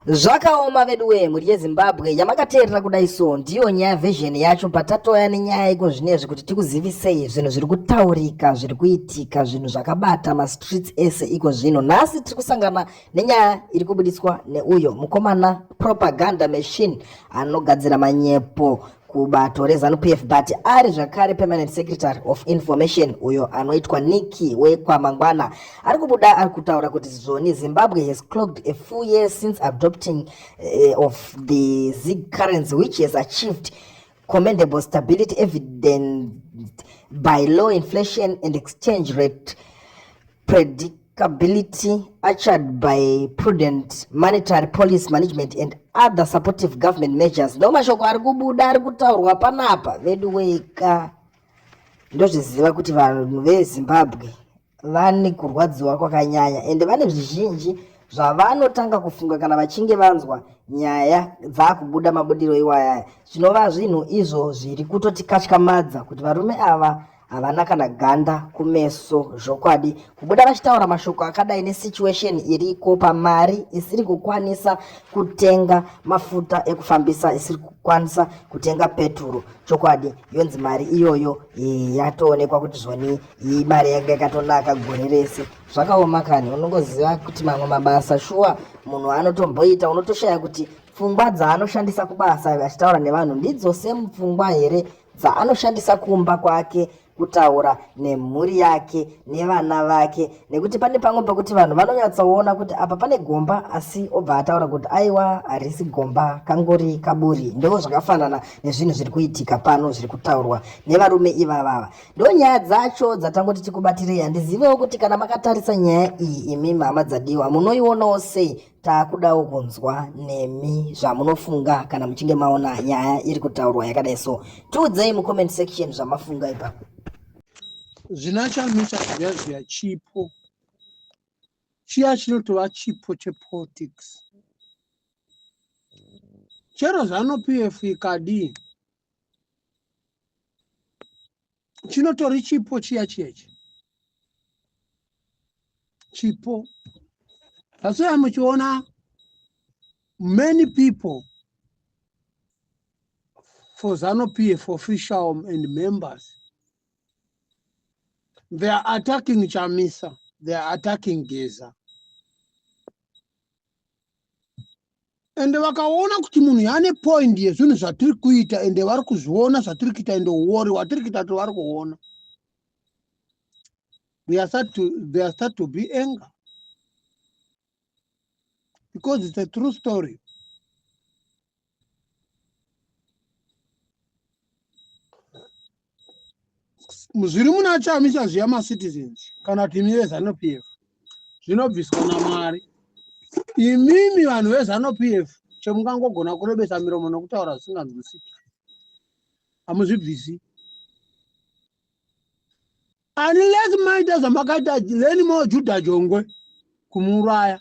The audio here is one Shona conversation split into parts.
Zvakaoma veduwee mhuri yeZimbabwe yamakateerera kudai so ndiyo nyaya version yacho patatoya nenyaya iko zvinezvi kuti tikuzivisei zvinhu zviri kutaurika zviri kuitika zvinhu zvakabata mastreets ese iko zvino nhasi tiri kusangana nenyaya iri kubudiswa neuyo mukomana propaganda machine anogadzira manyepo kubato reZanu PF but ari zvakare permanent secretary of information uyo anoitwa Nikki wekwamangwana ari kubuda ari kutaura kuti zvoni Zimbabwe has clogged a full year since adopting uh, of the Zig currency which has achieved commendable stability evident by low inflation and exchange rate predictability ushered by prudent monetary policy management and other supportive government measures ndo mashoko ari kubuda ari kutaurwa panapa vedu weka ndozviziva kuti vanhu vezimbabwe vane kurwadziwa kwakanyanya ende vane zvizhinji zvavanotanga kufunga kana vachinge vanzwa nyaya dzakubuda mabudiro iwayaya zvinova zvinhu izvo zviri kutotikatykamadza kuti varume ava havana kana ganda kumeso zvokwadi kubuda vachitaura mashoko akadai nesituation iriko pamari isiri kukwanisa kutenga mafuta ekufambisa isiri kukwanisa kutenga peturu chokwadi yonzi mari iyoyo yatoonekwa kuti zvoni iyi mari yanga yakatonaka gore rese zvakaoma kani unongoziva kuti mamwe mabasa shuwa munhu anotomboita unotoshaya kuti pfungwa dzaanoshandisa kubasa achitaura nevanhu ndidzo semupfungwa here dzaanoshandisa kumba kwake kutaura nemhuri yake nevana vake nekuti pane pamwe pekuti vanhu vanonyatsoona kuti apa pane gomba asi obva ataura kuti aiwa harisi gomba kangori kaburi ndo zvakafanana nezvinhu zviri kuitika pano zviri kutaurwa nevarume ivavava ndo nyaya dzacho dzatangoti tikubatirei handizivewo kuti kana makatarisa nyaya iyi imi mhama dzadiwa munoionawo sei Takudawo kunzwa nemi zvamunofunga kana muchinge maona nyaya iri kutaurwa yakadai so. Tiudzei mucomment section zvamafunga ipapo. Zvina chamisa zviya zviya chipo chiya chinotova chipo chepolitics chero zanu pf ikadii chinotori chipo chiya chiya ichi chipo asi uya muchiona many people for zano p f official and members they are attacking chamisa they are attacking geza ende vakaona kuti munhu yaane point yezvinhu zvatiri kuita ende vari kuzviona zvatiri kuita ende uori watiri kuita kuti vari kuona there start to, there start to be anger because it's a true story zviri muna chamisa zviya macitizens kana kuti imi vezanu p f zvinobviswa namwari imimi vanhu vezanu p f chemungangogona kurebesa miromo nokutaura zvisinganzwisiki hamuzvibvisi unless maita zvamakaita lenimo juda jongwe kumuuraya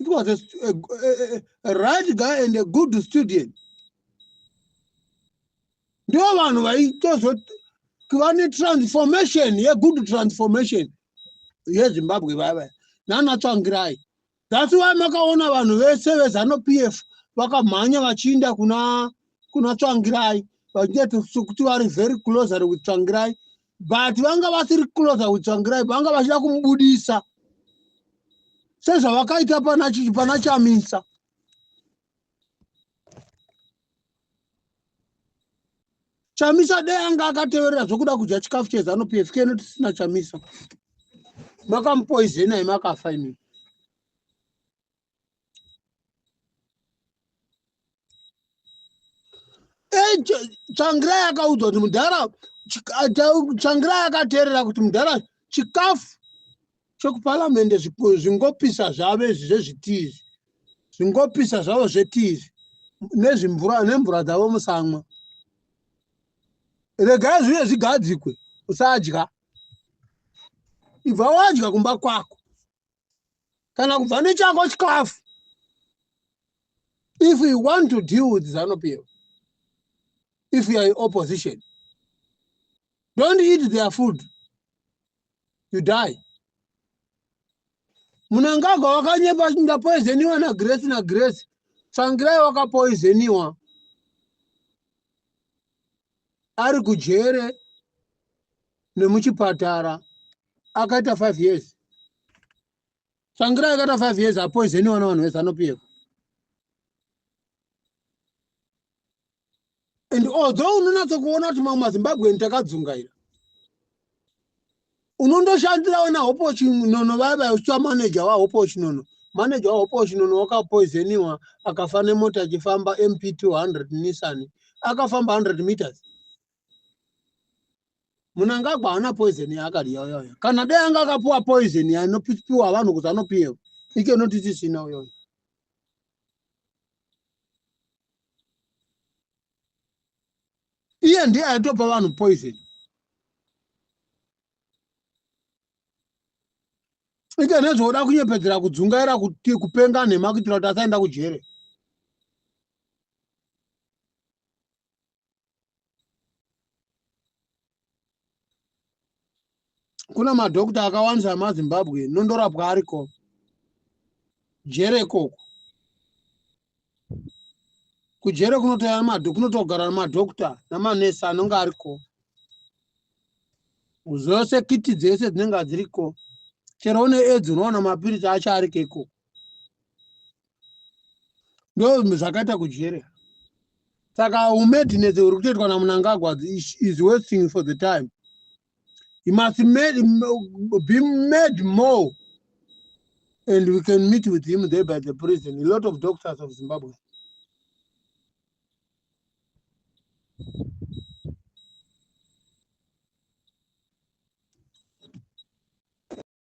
It was a, a, a, a right guy and a good student. Ndivo vanhu vaitozoti vane transformation yegood transformation yezimbabwe vaya vaya nanatsvangirai That's why makaona vanhu vese vezano PF vakamhanya vachiinda kuna kuna Tsvangirai vachiti kuti vari very closer with Tsvangirai but vanga vasiri closer with Tsvangirai vanga vachida kumubudisa sezvavakaita pana pana Chamisa chamisa dai anga akateverera zvokuda kudya chikafu chezanu pf keno tisina chamisa makamupoizenai makafa imii changira yakaudzwa kuti mudhara changira yakateerera kuti mudhara chikafu chokuparamende zvingopisa zvavo izvi zvezvitii izvi zvingopisa zvavo zvetii izvi nezvimvura nemvura dzavo musamwa regai zvive zvigadzikwe usadya ibva wadya kumba kwako kana kubva nechako chikafu if you want to deal with zanopf if you are in opposition don't eat their food you die munangagwa wakanyepa ndapoizeniwa nagrace nagrace tsvangirai wakapoizeniwa ari kujere nemuchipatara akaita five years tsvangirai akaita five years apoizeniwa navanhu vese anopiyeko and although unonatsa kuona kuti mamwe mazimbabweni takadzungaira unondoshandirawo nahopo chinono vaya vaya uchiva maneja wahopo chinono maneja wahopo chinono wakapoizeniwa akafa nemota achifamba mp 200 nissan akafamba 100 meters munangagwa haana poizeni yaakadya uyoyo kana dai anga akapiwa poizeni yainopiwa vanhu kuti anopiwa icho noti tisina uyoyo iye ndiye aitopa vanhu poison ita nezvooda kunyepedzera kudzungaira kuti kupenga nhema kuitira kuti asaenda kujere kuna madhokta akawandisa emazimbabwe nondorapwa ariko jere ikoko kujere kunotouya mado kunotogara nemadhokta nemanesi anonge ariko zvose kiti dzese dzinenge dziriko chero une edzi unoona mapiritsi acho ariko ikoko ndo zvakaita kujere saka umadness uri kutoitwa namunangagwa is wasting for the time you must made, be made more and we can meet with him there by the prison a lot of doctors of zimbabwe